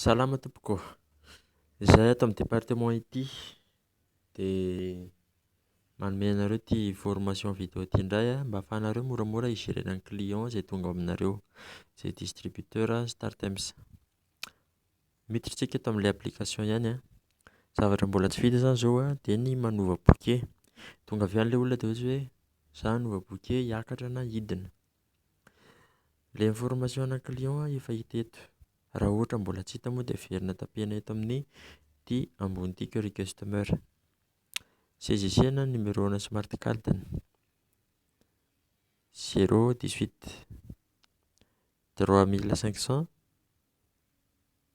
Salama tompoko, izahay ato amin'ny département ity dia manome anareo ity formation vidéo ity indray an, mba afahanareo moramora hi-gérer ny client izay tonga ao aminareo, izay distributeur Startimes. Miditra isika eto amin'ilay application ihany an, zavatra mbola tsy vita izany izao an dia ny manova bouquet, tonga avy any ilay olona dia ohatra hoe za hanova bouquet hiakatra na hidina. Ilay information ana client efa hita eto. Raha ohatra mbola tsy hita moa dia averina tapena eto amin'ny ity ambony ity query customer. CGC na ny numero ana smart card ny zero dix huit trois mille cinq cent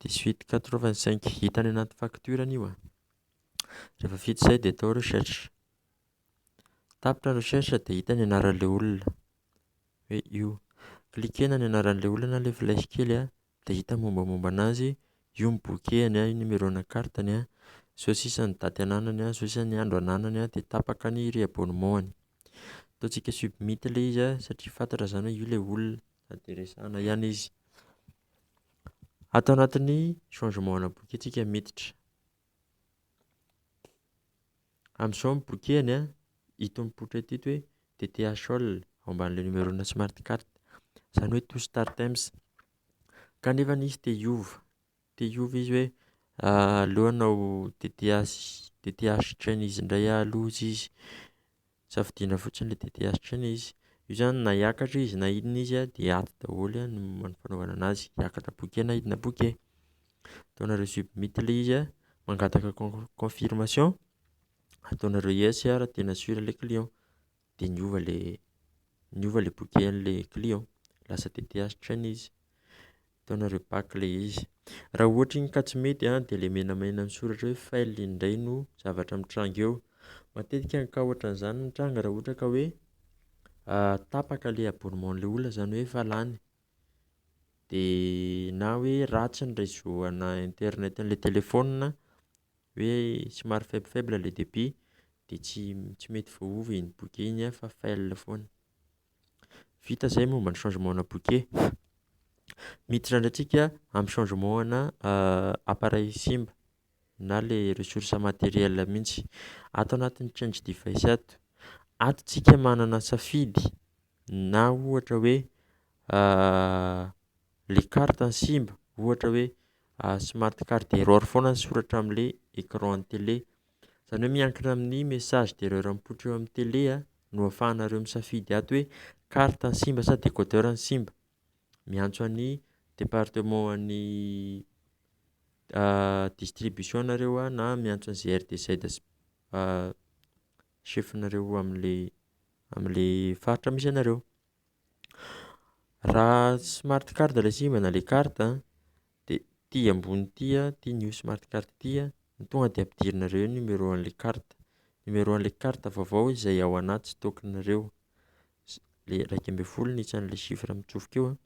dix huit quatre vingt cinq. Hita any anaty facture any io a. Rehefa vita izay dia atao recherche. Tapitra recherche dia hita ny anaran'ilay olona hoe io. Cliquer-na ny anaran'ilay olona na ilay flèche kely an, dia hita ny mombamomba an'azy, io ny bouquet-ny an, io ny numéro-na carte-ny an, zao sisa ny daty ananany an, zao sisa ny andro ananany an, dia tapaka ny re-abonnement-ny. Ataontsika submit ilay izy an satria fantatra izany hoe io ilay olona sady dia resahana ihany izy. Ato anatin'ny changement-na boky antsika miditra. Amin'izao mipokihany an, ito mipoitra ity ito hoe DTH all ao ambanin'ilay numerona smart carte. Izany hoe to start ems. Kanefa izy te hiova, te hiova izy hoe aleo hanao DTH DTH chain izy indray ah aloha izy izy. Safidiana fotsiny ilay DTH chain izy. Io izany na hiakatra izy na inona izy dia ato daholo ny fanaovana an'azy. Hiakatra bouquet na hidina bouquet. Ataonareo submit ilay izy a, mangataka con- confirmation, ataonareo yes a raha tena sur ilay client, dia niova ilay niova ilay bouquet-n'ilay client, lasa tth train izy, ataonareo back ilay izy. Raha ohatra iny ka tsy mety a, dia ilay menamena misoratra hoe fail iny indray no zavatra mitranga eo, matetika ny cas ohatran'izany mitranga raha ohatra ka hoe tapaka ilay abonnement-n'ilay olona, izany hoe efa lany. dia na hoe ratsy ny réseau ana internet an'ilay téléphone hoe somary faible faible le débit dia tsy tsy mety voaova iny bouquet iny fa fail foana, vita zay momba ny changement ana bouquet, miditra ndray tsika amin'ny changement ana appareil simba na le ressource materiel mihintsy, ato anatin'ny change device ato, ato tsika manana safidy Na ohatra hoe le carte no simba, ohatra hoe smart card error foana ny soratra amin'ilay écran an'ny télé, izany hoe miankina amin'ny message d'erreur mipoitra eo amin'ny télé a no ahafahanareo misafidy ato hoe carte no simba sa décodeur no simba, miantso an'ny département an'ny distribution nareo na miantso an'i GRDZ sy chef nareo amle amle faritra misy anareo. Raha smart card ilay sim na le carte a de ty ambony ty a ty ny io smart card ty a ny tonga de ampidirinareo eo ny numéro anle carte numéro anle carte vaovao izay ao anaty stock nareo le raika ambin'ny folo ny isan le chiffre mitsofoka eo a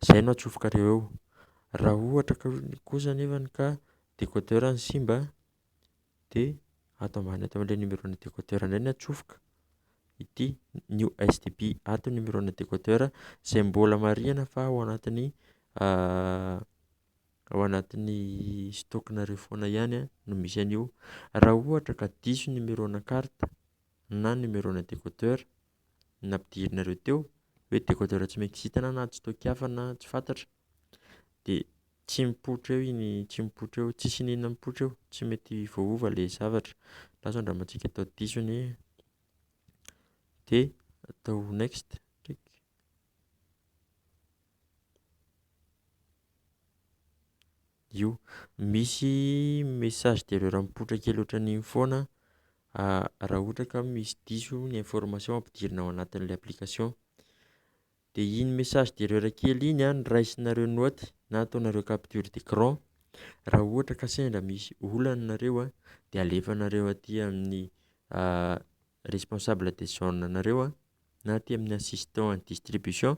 zay no atsofokareo eo raha ohatra ka kosa nefany ka decoder ny simba de ato ambany ato amin'ilay numéro ana décodeur indray ny atsofoka ity new stb ato ny numéro ana décodeur izay mbola marihina fa ao anatin'ny ao anatin'ny stock-nareo foana ihany no misy an'io, raha ohatra ka diso ny numéro ana carte na numéro ana décodeur. ny nampidirinareo teo hoe décodeur tsy maintsy hitana na tsy toa kiafa na tsy fantatra dia tsy mipoitra eo iny tsy mipoitra eo tsisy iniana mipoitra eo tsy mety voaova le zavatra lasa andramantsika atao diso anie de atao next ndreky io. Misy message d'erreur mipoitra kely ohatran'iny foana raha ohatra ka misy diso ny information ampidirina ao anatin'ilay application, de iny message d'erreur kely iny a no raisinareo note na ataonareo capture d'écran, raha ohatra ka sendra misy olana nareo a de alefanareo aty amin'ny. responsable de zone anareo a, na aty amin'ny assistant en distribution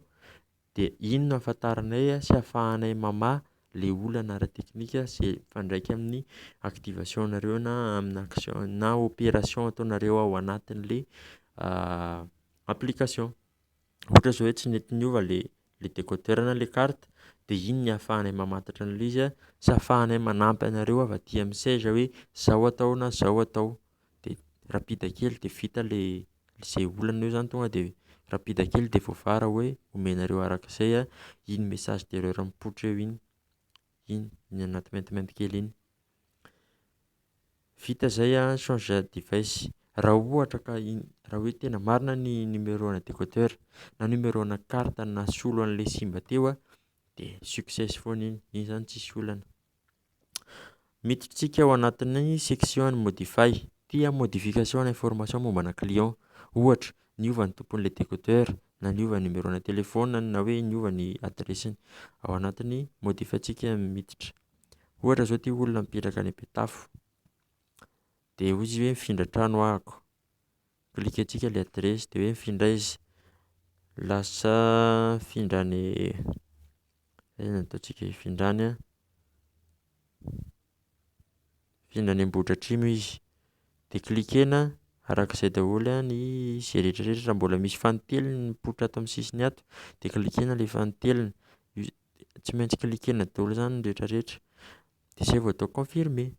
de iny no ahafantaranay sy ahafahanay mamaha le olana ara teknika ze mifandraika amin'ny activation nareo na amina action na operation ataonareo ao anatin'le application. ohatra zao hoe tsy nety niova le le decoder na le carte de iny ny afahanay mamantatra an'le izy a sy afahanay manampy anareo avy aty amin'ny seza hoe zao atao na zao atao de rapida kely de vita le ze olana eo zany tonga de rapida kely de voavara hoe omenareo arak'izay a iny message d'erreur mipoitra eo iny iny iny anaty maintimainty kely iny. Vita zay an, change device, raha ohatra ka in- raha hoe tena marina ny numéro ana décodeur na numéro ana carte nasolo anle simba teo an de success foana iny, iny zany tsisy olana, miditra tsika ao anatin'ny section ny modify, ty an modification ny information momba ana client, ohatra niova ny tomponle décodeur na niova ny numéro ana telefona na hoe niova ny adiresiny, ao anatin'ny modify tsika miditra. Ohatra zao ty olona mipetraka any Betafo de hoy izy hoe mifindra trano ahako, clique antsika le adiresy de hoe mifindra aiza, lasa mifindra any aiza no ataontsika hifindra any a. Mpifidy any Ambohidratrimo izy de cliquena araka izay daholo a ny izay retraretra raha mbola misy fanintelony mipoitra ato amin'ny sisiny ato de cliquena le fanintelony tsy maintsy cliquena daholo zany ny retraretra de zay vao atao confirmer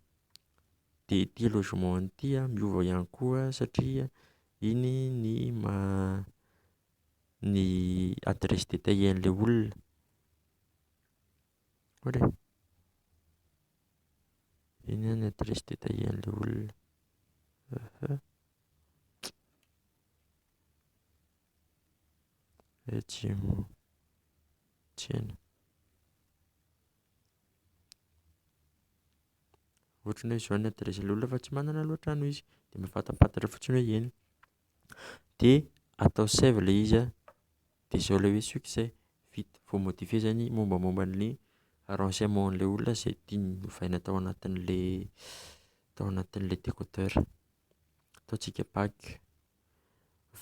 de ity logement ity a miova ihany koa satria iny ny maha ny adresse détaillée an'le olona. Eny any adresse detaillen'ilay olona. Aha. Ejimo. Tsena. Ohatran'ny hoe izao ny adresse ilay olona fa tsy manana aloha trano izy dia mafatafantatra fotsiny hoe eny. dia atao save ilay izy an, dia zao ilay hoe succès, vita, vao modifier zay ny mombamomba ny renseignement an'ilay olona izay tiany ovaina tao anatin'ilay tao anatin'ilay décodeur, ataontsika back,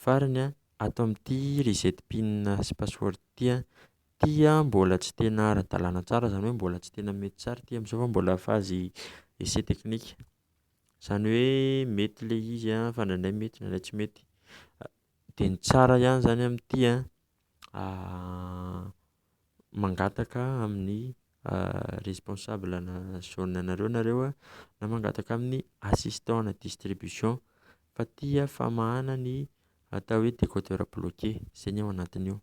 farany an ato amin'ity reset pin sy password ity an, ity an mbola tsy tena ara-dalana tsara, izany hoe mbola tsy tena mety tsara ity amin'izao fa mbola phase essai technique. Zany hoe mety le izy an fa ndraindray mety ndraindray tsy mety de ny tsara ihany zany amty an mangataka amin'ny responsable ana zone anareo nareo an na mangataka amin'ny assistant ana distribution fa ty an famahana ny atao hoe decodeur bloqué zay ny ao anatiny ao.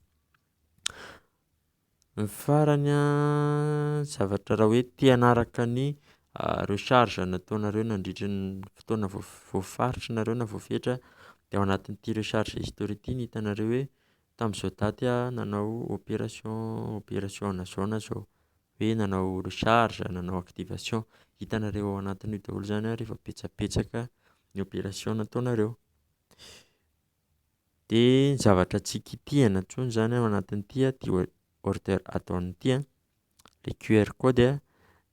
Ny farany an, zavatra raha hoe te hanaraka ny recharge nataonareo nandritra ny fotoana voafaritry nareo na voafetra dia ao anatin'ity recharge history ity ny hitanareo hoe tamin'izao daty aho nanao operation operation ana zao na zao hoe nanao recharge nanao activation hitanareo ao anatin'io daholo zany ary efa betsabetsaka ny operation nataonareo. Dia zavatra tsy kitihana intsony izany ao anatin'ity order add-on ity an, ilay QR code an,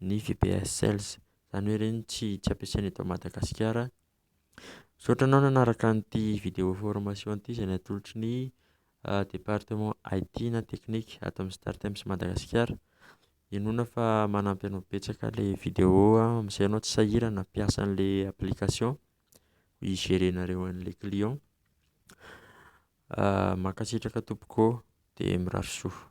ny VPS Sales, izany hoe ireny tsy tsy ampiasaina eto Madagasikara. Misaotra anao nanaraka an'ity vidéo formation ity izay natolotry ny département IT na teknika ato amin'ny Star Times Madagasikara. Inoana fa manampy anao betsaka ilay vidéo amin'izay ianao tsy sahirana hampiasa an'ilay application. hi-gérer nareo an'le client. Mankasitraka tompoko ô, de mirary soa.